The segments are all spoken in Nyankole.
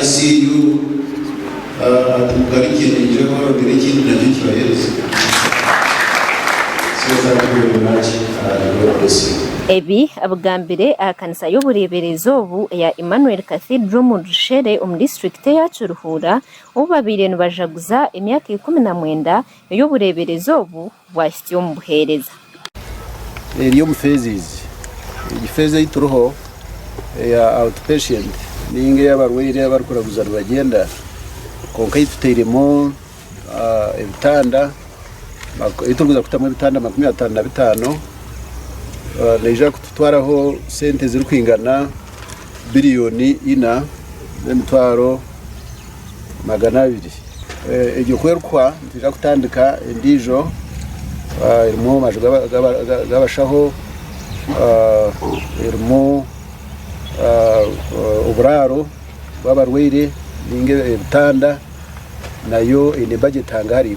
ICU ati mugarukye naija abarondere ekindi nakyo kibahereze so thank you very much and God bless you. Ebi abigambire aha kanisa y'obureeberezi obu eya Emmanuel Cathedral omu Rushere omu disiturikiti eya Kiruhura obu babaire nibajaguza emyaka ikumi na mwenda ey'obureeberezi obu bwahitsya omu buheereza. Eri omu phases. Egi phase ei turiho eya outpatient nainga ey'abarwaire abarikuraguza nibagyenda kwonka ei tutairemu ebitanda, ei turikuza kutamu ebitanda makumi ataano na bitaano neija kututwaraho sente ezirikwingana biriyoni ina n'emitwaro. magana abiri. Egyo ku erikuhwa nitwija kutandika endiijo erimu amaju g'abashaho, erimu oburaaro bw'abarwaire nainga ebitanda, nayo eine bajeti hangahariho.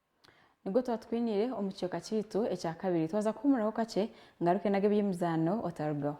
Nibwo tuba tukwiniire omu kicweka kyaitu ekya kabiri. Twaza kuhuumuraho kakye, ngaruke nage eby'emizaano otarugaho.